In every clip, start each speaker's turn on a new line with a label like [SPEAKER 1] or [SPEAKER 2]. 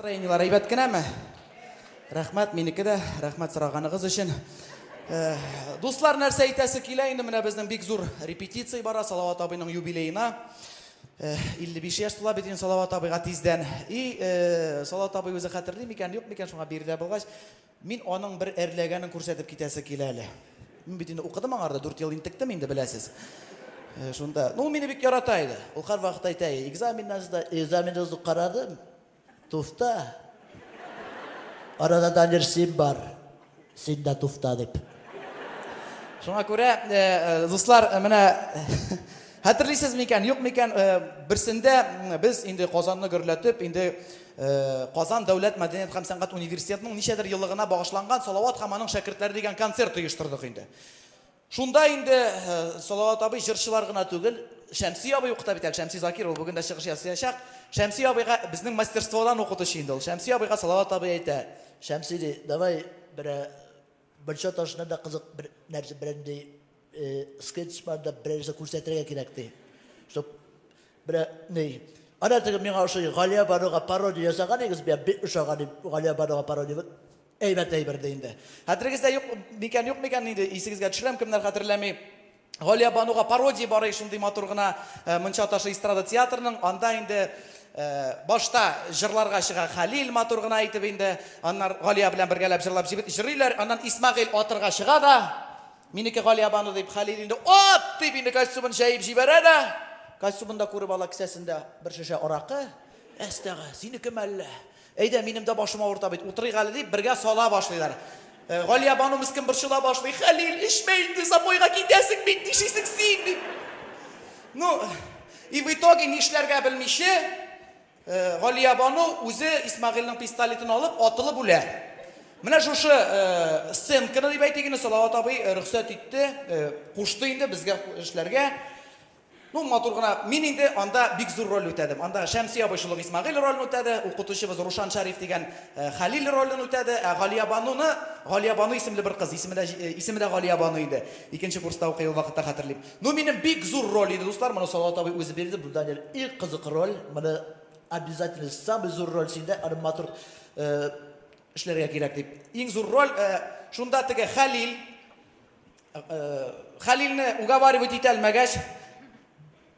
[SPEAKER 1] Настроениеләр әйбәт кенәме? Рәхмәт, минеке дә. Рәхмәт сораганыгыз өчен. Э, дуслар, нәрсә әйтәсе килә инде менә безнең бик зур репетиция бара Салават абыйның юбилеена. 55 э, яшь тула бит инде Салават абыйга тиздән. И э, Салават абый үзе хәтерли микән, юк микән шуңа биредә булгач, Мин аның бер әрләгәнен күрсәтеп китәсе килә әле. Мин бит инде укыдым аңарда, дүрт ел интектем инде, беләсез. Э, шунда. Ну, ул мине бик ярата иде. Ул һәрвакыт әйтә, экзаменнар сда, экзаменда сда карадым. Туфта. Арада да бер син бар. Син дә туфта дип. Шуңа күрә, э, э, дуслар, э, менә хәтерлисез микән, юк микән, берсендә без инде Казанны гөрләтеп, инде Казан дәүләт мәдәният һәм сәнгать университетының ничәдер еллыгына багышланган Салават һәм аның шәкертләре дигән концерт оештырдык инде. Шунда инде Салават абый җырчылар гына түгел, Шәмси абый укыта бит әле, Шәмси Закир, ул бүген дә чыгыш ясыячак. Шәмси абыйга безнең мастерстводан укытучы инде ул. Шәмси абыйга Салават абый әйтә. Шәмси ди, давай берәр бер чаташны да кызык бер нәрсә белән ди, Скетч бар да берәрсе күрсәтергә кирәк ди. Чтоб берә ни. Ана теге миңа ошый Галия Баруга пародия ясаган егез бия бик ошаган ди. Галия Баруга пародия әйбәт әйбер ди инде. Хәтерегездә юк микән, юк микән инде исегезгә төшерәм, кемнәр хәтерләми. Галия Бануга пародия бар ич шундый матур гына Мунча ташы эстрада театрының. Анда инде башта җырларга чыга Хәлил матур гына итеп инде. Аннар Галия белән бергәләп җырлап җибет җырлыйлар. Аннан Исмәгыйль атырга чыга да Минеке Галиябану, дип, Хәлил инде ат дип инде костюмын чәеп җибәрә дә, костюмын да күреп ала, кесәсендә бер шешә аракы, Әстәгә, синеке мәллә? Әйдә, минем дә башым авырта бит, утырыйк әле, дип, бергә сала башлыйлар. Галиябану мескен борчыла башлый, Хәлил, эчмә инде, запойга китәсең бит, нишисең син, дип. Ну, и в итоге, нишләргә белмичә, Галиябану үзе Исмәгыйльнең пистолетын алып, атылып үлә. Менә шушы сценканы дип әйтик инде, Салават абый рөхсәт итте, кушты инде безгә эшләргә. Ну, матур гына. Мин инде анда бик зур роль үтәдем. Анда Шәмси абый шул ук Исмәгыйль ролен үтәде, укытучыбыз Рушан Шәриф дигән Хәлил ролен үтәде, ә Галиябануны, Галиябану исемле бер кыз, исеме дә Галиябану иде, икенче курста укый ул вакытта, хәтерлим. Ну минем бик зур роль иде, дуслар, моны Салават абый үзе бирде, бу Данил и кызык роль, моны обязательно самый зур роль синдә, аны матур э, эшләргә кирәк дип. Иң зур роль, э, шунда теге Хәлил, э, Хәлилне уговаривать итә алмагач,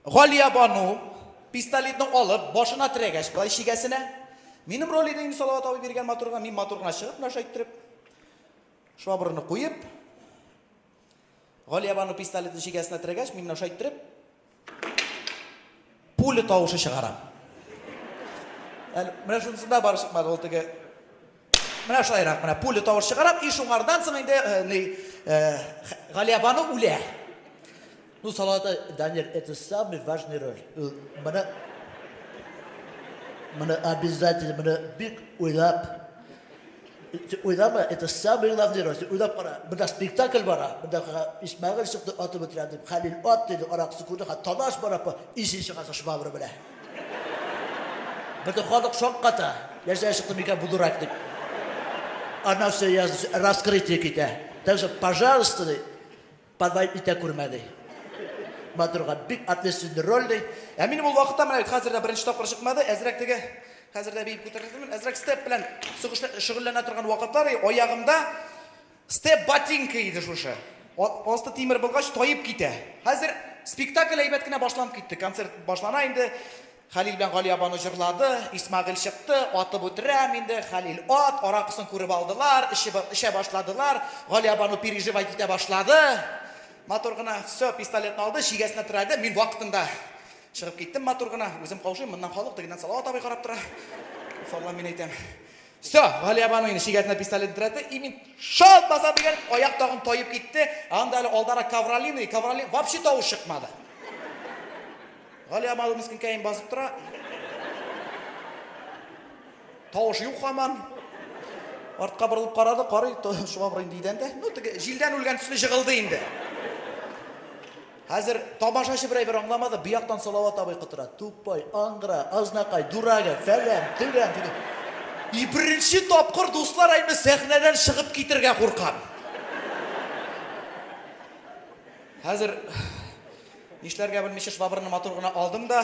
[SPEAKER 1] Галия Бану пистолетны алып, башына терәгәч, былай шигәсенә, минем роль иде инде Салават абый биргән матурга, мин матурына чыгып, нәрсә әйттереп, швабраны куеп, Галиябану пистолетны чигәсенә терәгәч, мин менә шулай иттереп, пуля тавышы чыгарам. Әле менә шунысында бары чыкмады, ул теге менә шулайрак менә пуля тавыш чыгарам, и шуңардан соң инде э, ни э, Галиябану үлә. Ну, салаты, Данир, это самый важный роль. Э, менә менә обязательно менә бик уйлап Син уйлама, это самый главный роль. Син уйлап кара, монда спектакль бара, монда Исмәгыйль чыкты, атып үтерәм дип, Хәлил ат диде, аракысы күрде, ха талаш бара, исе чыгасы швабра белә. Бөтен халык шакката. Нәрсә чыкты микән бу дурак дип. Аннан все раскрытие китә. Так что, пожалуйста, Подай итә күрмә, ди. Матурга бик ответственный роль, ди. Ә минем ул вакытта, менә бит хәзер дә беренче тапкыр чыкмады, әзрәк теге, хәзер дә биеп күтәргәнмен, әзрәк степ белән шөгыльләнә торган вакытлар, и аягымда степ ботинка иде шушы. Асты тимер булгач, таеп китә. Хәзер спектакль әйбәт кенә башланып китте. Концерт башлана инде. Хәлил белән Галия бану җырлады, Исмәгыйль чыкты, атып үтерәм инде, Хәлил ат, аракысын күреп алдылар, эчеп эчә башладылар, Галия бану переживать итә башлады, матур гына, все, пистолетны алды, чигәсенә терәде, мин вакытында чыгып киттем матур гына, үзем каушыйм, моннан халык тегеннән Салават абый карап тора, уф Аллам мин әйтәм, Все, Галиябану инде шигәтенә пистолет дерәтте, и мин шалт баса дигән, аяк тагын таеп китте. Анда әле алдара ковролин, и ковролин вообще тавыш чыкмады. Галиябану мискинкәем басып тора. Тавыш юк хаман. Артка борылып карады, карый, шуңа борын дидән дә. Ну, теге җилдән үлгән төсле җыгылды инде. Хәзер тамашачы берәй бер аңламады, бу яктан Салават абый котыра, тупой, аңгыра, азнакай, дурага, фәлән, төгән, диде. И беренче тапкыр дуслар әйме сәхнәдән чыгып китергә куркам. Хәзер нишләргә белмичә швабраны матур гына алдым да,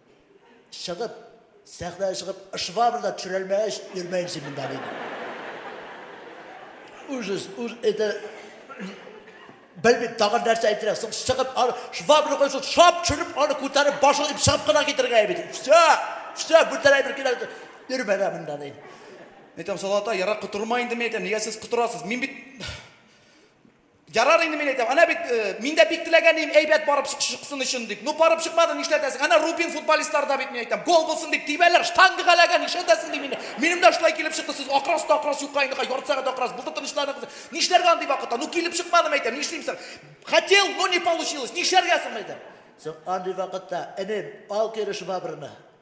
[SPEAKER 2] чыгып, сәхнәгә чыгып, швабра да төшерәлмәгәч, йөрмәйм син монда, диде. Ужас, уж это... Белмим, тагын нәрсә әйтергә, соң чыгып, аны швабра куйсаң, шап төшереп, аны күтәреп, башын итеп чыгып кына китергә бит. Все, все, бүтән әйбер кирәк. Йөрмә дә монда, диде. Әйтәм, Салата,
[SPEAKER 1] ярар котырма инде, мин әйтәм, нигә сез котырасыз? Мин бит Ярар инде мин әйтәм, әнә бит, мин дә бик теләгән идем, әйбәт барып чыксын өчен дип. Ну, барып чыкмады, нишләтәсең? Әнә Рубин футболистлары да бит, мин әйтәм, гол булсын дип тибәләр, штанга галәгә, нишләтәсең дим инде. Минем дә шулай килеп чыкты, сез акырасыз да акырасыз, юкка инде, һай, ярты сәгать акырасыз, булды, тынычланыгыз. Нишләргә андый вакытта? Ну, килеп чыкмады, мин әйтәм, нишлим соң? Хотел, но не получилось, нишләргә соң, мин әйтәм? Соң андый
[SPEAKER 2] вакытта, энем, ал кире швабраны.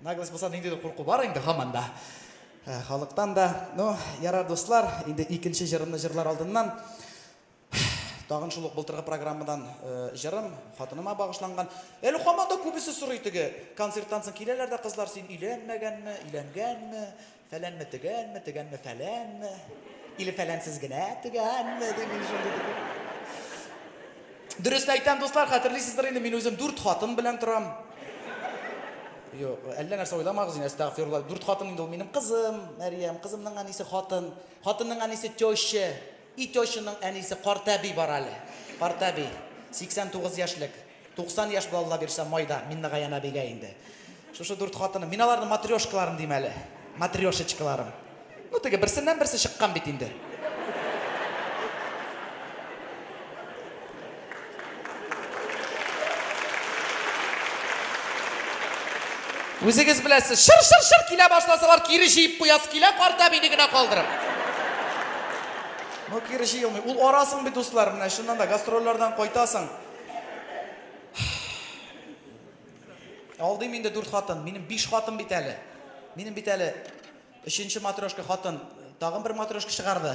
[SPEAKER 1] Наглость булса ниндидер курку бар инде һаман да халыктан да. Ну, ярар, дуслар, инде икенче җырымны җырлар алдыннан тагын шул ук былтыргы программадан җырым хатыныма багышланган. Әле һаман да күбесе сорый теге концерттан соң киләләр дә кызлар, син өйләнмәгәнме, өйләнгәнме? Фәләнме, төгәнме, төгәнме, фәләнме, или фәләнсез генә төгәнме, дип мин шундый дип. Дөрес әйтәм, дуслар, хәтерлисездер инде, мин үзем дүрт хатын белән торам. Юк, әллә нәрсә уйламагыз инде, әстәгъфирулла. Дүрт хатын инде ул минем кызым, Мәрьям, кызымның әнисе хатын, хатынның әнисе теща, Итёчының әнисе картәби бар әле. Картәби. 89 яшьлек. 90 яшь була Алла бирсә майда Миннегаян әбигә инде. Шушы дүрт хатыны. Мин аларны матрешкаларым дим әле. Матрешечкаларым. Ну теге берсеннән берсе чыккан бит инде. Үзегез беләсез, шыр-шыр-шыр килә башласалар, кире җыеп куясы килә, карт әбине генә калдырып. Ну, кире җыелмый. Ул арасың бит, дуслар, менә чыннан да гастрольләрдән кайтасың. Алдыйм инде дүрт хатын. Минем биш хатын бит әле. Минем бит әле Өченче матрешка хатын тагын бер матрешка чыгарды.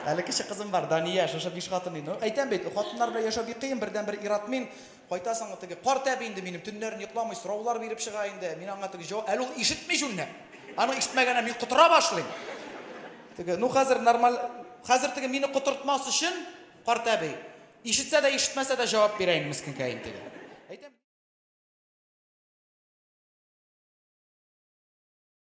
[SPEAKER 1] Әле кече кызым бар, Дания, шушы биш хатын инде. Ну, әйтәм бит, хатыннар белән яшәү бик кыен, бердәнбер ир-ат мин. Кайтасың, теге карт әби инде минем, төннәрен йокламый, сораулар биреп чыга инде. Мин аңа теге җавап, әле ул ишетми җүнләп. Аның ишетмәгәненә мин котыра башлыйм. Теге, ну хәзер нормаль, хәзер теге мине котыртмас өчен, карт әби, ишетсә дә, ишетмәсә дә җавап бирә инде мескенкәем теге. Әйтәм